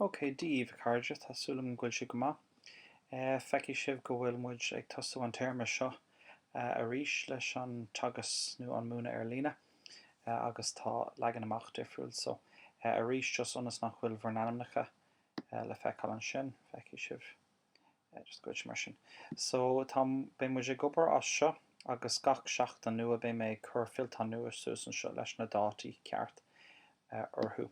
OK, Dia daoibh, a chairde, tá súil agam go bhfuil sibh go maith. Feicfidh sibh go bhfuil muid ag tosú an téarma seo arís leis an teagasc nó an múineadh ar líne agus tá leagan amach difriúil. So, arís, just ionas nach bhfuil bhur n-ainmneacha le feiceáil ansin, feicfidh sibh. Yeah, just go mar sin. So, tá, beidh muid ag obair as seo agus gach seachtain nua beidh mé ag cur fillteán nua suas anseo leis na dátaí ceart eh, orthu.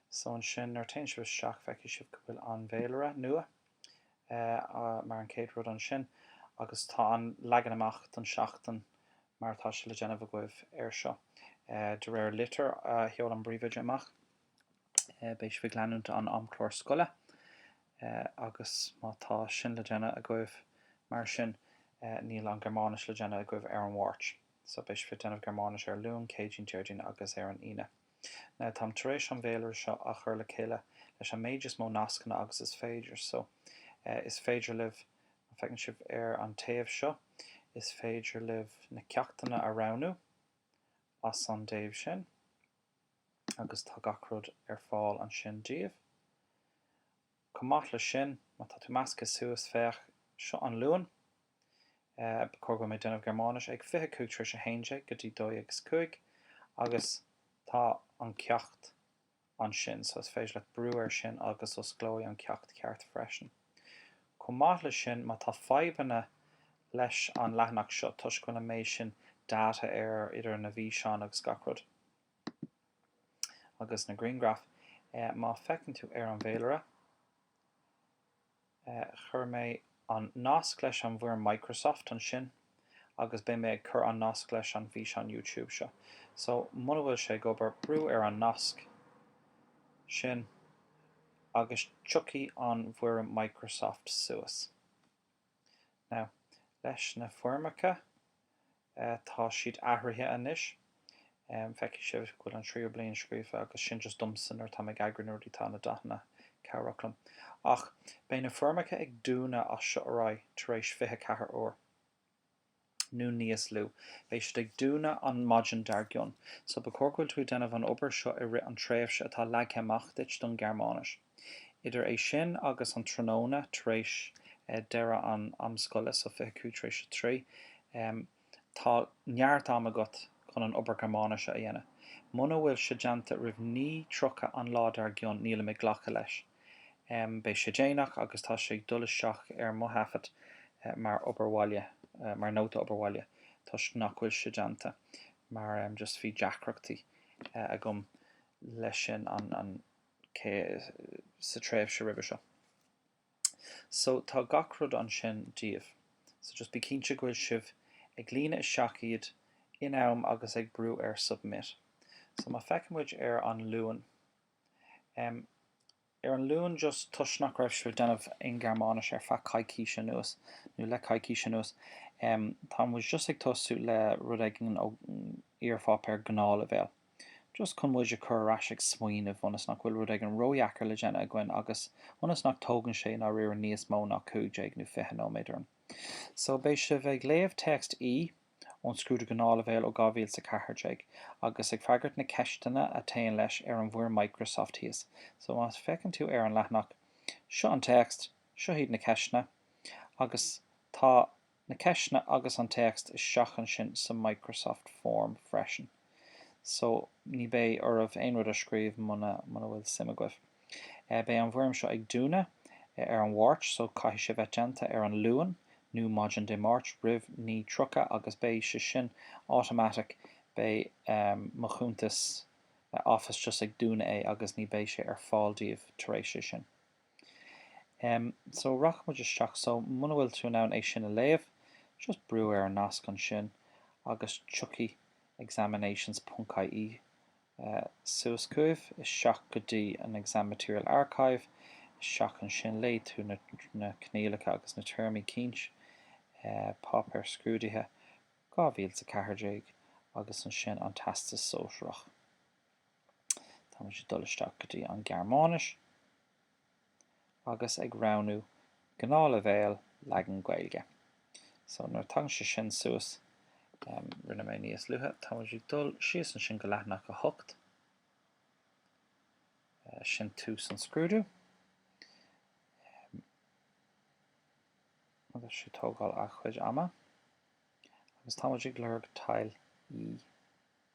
So ansin nuair a téann sibh isteach feicfidh sibh go bhfuil an bhféilire nua eh, ah, mar an chéad rud ansin agus tá an leagan amach don seachtain mar atá sé le déanamh agaibh ar seo. Eh, de réir litir a sheol an bpríomhoide amach Beidh sibh ag leanúint an amchlár scoile agus má tá sin le déanamh agaibh mar sin níl an Gearmáinis le déanamh agaibh ar an Mháirt. So beidh sibh ag déanamh Gearmáinis ar an Luan, Céadaoin, Déardaoin agus ar an Aoine. Now táim tar éis an bhféilire seo a chur le chéile leis an méid is mó nascanna agus is féidir. So is féidir libh, má feiceann sibh ar an taobh seo, is féidir libh na ceachtanna a roghnú as an dtaobh sin. agus tá gach rud ar fáil ansin daoibh. Chomh maith leis sin, má tá tú measctha suas, féach, seo an Luan, ba chóir go bhfuil mé ag déanamh Gearmáinis, ag fiche cúig tar éis a haon déag go dtí dó dhéag is cúig, agus tá an ceacht ansin so is féidir leat brú air sin agus osclóidh an ceacht ceart freisin. Chomh maith leis sin, má tá fadhbanna leis an leathanach seo toisc go bhfuil an méid sin data air idir na bhfíseáin agus gach rud, Agus na grianghraif, má feiceann tú ar an bhféilire, chuir mé an nasc leis an bhfoirm Microsoft ansin agus beidh mé ag cur an nasc leis an bhfíseán YouTube seo. So, muna bhfuil sé ag obair, brú ar an nasc sin agus tiocfaidh an bhfoirm Microsoft suas. Now, leis na foirmeacha, eh, tá siad athraithe anois. Em, feicfidh sibh go bhfuil an tríú bliain scríofa agus sin just domsa nuair atá mé ag eagrú na rudaí tá na dathanna cabhrach liom. Ach beidh na foirmeacha ag dúnadh as seo ar aghaidh tar éis fiche ceathair uair. nó níos lú. Beidh siad ag dúnadh an maidin dar gcionn. So ba chóir go bhfuil tú ag déanamh an obair seo i rith an tréimhse atá leagtha amach duit don Ghearmáinis. Idir é sin agus an tráthnóna tar éis deireadh an am scoile, so fiche cúig tar éis a trí, tá neart am agat chun an obair Ghearmáinise a dhéanamh. Muna bhfuil sé déanta roimh naoi tríocha an lá dar gcionn nílim ag glacadh leis. Em, beidh sé déanach agus tá sé ag dul isteach ar mo thaifead mar obair bhaile, mar nóta obair bhaile toisc nach bhfuil sé déanta mar, em, just bhí deacrachtaí agam leis sin an, an, cé, sa tréimhse roimhe seo. So, tá gach rud ansin daoibh. So, just bí cinnte go bhfuil sibh ag líonadh isteach iad in am agus ag brú ar submit. So, má feiceann muid ar an Luan, em ar an Luan just toisc nach raibh sibh ag déanamh aon Ghearmáinis ar feadh coicíse anuas, nó le coicís anuas, em tá muid just ag tosú le rud éigin ó iarpháipéar gnáthleibhéil, just chun muid a chur ar ais ag smaoineamh ionas nach bhfuil rud éigin ródheacair le déanamh againn agus ionas nach dtógann sé i ndáiríre níos mó ná cúig déag nó fiche nóiméad orainn. So beidh sibh ag léamh téacs E. ón scrúdú gnáthleibhéil ó 2014 agus ag freagairt na ceisteanna a téann leis ar an bhfoirm Microsoft thíos. So má feiceann tú ar an leathanach, seo an téacs, seo hiad na ceisteanna agus tá na ceisteanna agus an téacs isteach ansin sa Microsoft Form freisin. So, ní beidh oraibh aon rud a scríobh muna, muna bhfuil suim agaibh. Beidh an bhfoirm seo ag dúnadh ar an Mháirt so caithfidh sé bheith déanta ar an Luan nó maidin Dé Máirt roimh 9:30 agus beidh sé sin automatic, beidh mo chuntas Office just ag dúnadh é agus ní beidh sé ar fáil daoibh tar éis é sin. Em so rachaidh muid isteach so muna bhfuil tú in ann é sin a léamh just brú ar an nasc ansin agus tiocfaidh examinations ponc ie eh suas chugaibh, isteach go dtí an exam material archive, isteach ansin léigh tú na na coinníollacha agus na téarmaí cinnte eh páipéar scrúdaithe 2014 agus ansin an Teastas Sóisearach. Tá muid ag dul isteach go dtí an Ghearmáinis agus ag roghnú gnáthleibhéal leagan Gaeilge. So nuair a tagann sé sin suas, em, rinne mé níos luaithe, tá muid ag dul síos ansin go leathanach a hocht, eh, sin tús an scrúdú, em, tá sé ag tógáil a chuid ama, agus tá muid ag lorg Teil E.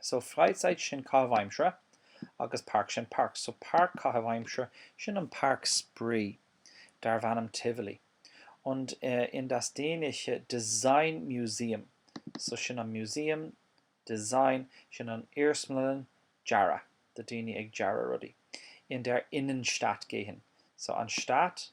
So Freizeit sin caitheamh aimsire agus Park sin páirc. So páirc caitheamh aimsire sin an páirc spraoi darbh ainm Tivoli. Und in das dänische Design Museum so sin an museum Design sin an iarsmalann dearadh do daoine ag dearadh rudaí in der Innenstadt gehen so an Stadt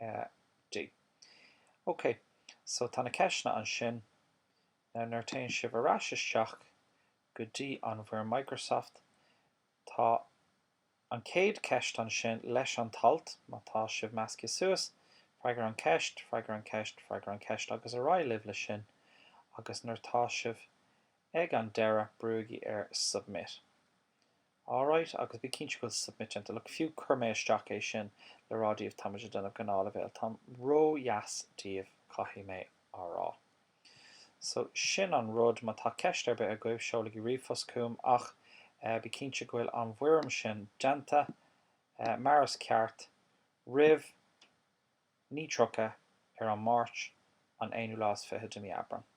AG, Ok, so tá na ceisteanna ansin. Now nuair téann sibh ar ais isteach go dtí an bhfoirm Microsoft, tá an chéad ceist ansin leis an t-alt, má tá sibh measctha suas, freagair an cheist, freagair an cheist, freagair an cheist agus ar aghaidh libh le sin agus nuair tá sibh ag an deireadh brúigí ar Submit. All right, agus bí cinnte go bhfuil submit déanta. Look, fiú chuir mé isteach é sin le rá daoibh, táimid ag déanamh gnáthleibhéil. Táim ró-dheas daoibh, caithfidh mé a rá. So, sin an rud. Má tá ceist ar bith agaibh, seolaigí ríomhphost chugam, ach eh bí cinnte go bhfuil an bhfoirm sin déanta eh mar is ceart roimh 9:30 ar an Máirt, an aonú lá is fiche de mhí Aibreán.